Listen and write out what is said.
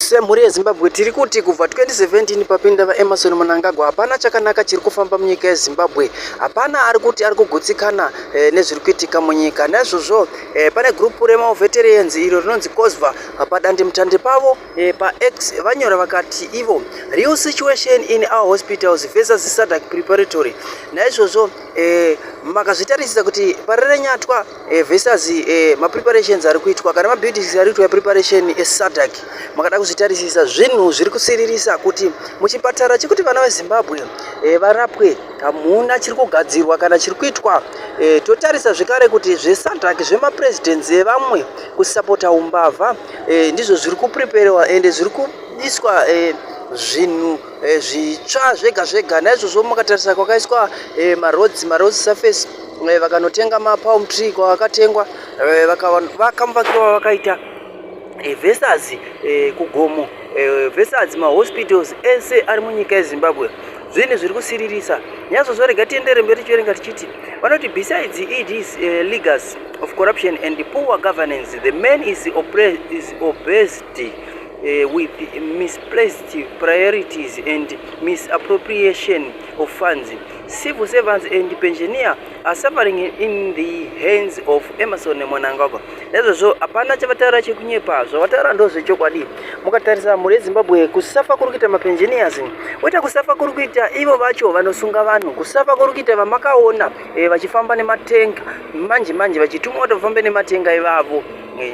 Semhuri yeZimbabwe tiri kuti kubva 2017 papinda VaEmmerson Mnangagwa hapana chakanaka chiri kufamba munyika yeZimbabwe. Hapana ari kuti ari kugutsikana eh, nezviri kuitika munyika. Naizvozvo eh, pane gurupu remaoveterians iro rinonzi COSVA padandemutande pavo eh, paX vanyora vakati ivo real situation in our hospitals versus SADC preparatory. Naizvozvo eh, makazvitarisisa kuti pari renyatwa Eh, Vestas eh, mapreparations ari kuitwa kana mabuildings ari kuitwa preparation esadak eh, makada kuzvitarisisa zvinhu zviri kusiririsa kuti muchipatara chekuti vana vezimbabwe eh, varapwe hamuna chiri kugadzirwa kana chiri kuitwa eh, totarisa zvekare kuti zvesadak zvemapresidents evamwe kusapota umbavha eh, ndizvo zviri kupreparewa ende zviri kuiswa eh, zvinhu e, zvitsva zvega zvega naizvozvo makatarisa kwakaiswa e, maroads maroads surface e, vakanotenga mapalm tree kwavakatengwa e, vakamuvakiro vavakaita e, versus e, kugomo e, versus mahospitals ese ari munyika yezimbabwe zvinhu zviri kusiririsa nyazvozvo rega tiendere mberi tichiverenga tichiti vanoti besides eds uh, eh, legas of corruption and poor governance the man is, is obesity Uh, with misplaced priorities and misappropriation of funds. Civil servants and pensioner are suffering in the hands of Emerson Mwanangagwa. Ezvo zvo hapana chavataura chekunyepa, zvavataura ndo zvechokwadi. Mukatarisa mhuri yeZimbabwe kusafa kuri kuita mapensioners, oita kusafa kuri kuita ivo vacho vanosunga vanhu, kusafa kuri kuita vamakaona eh, vachifamba nematenga manje manje vachitumwa kuti vafambe nematenga ivavo eh.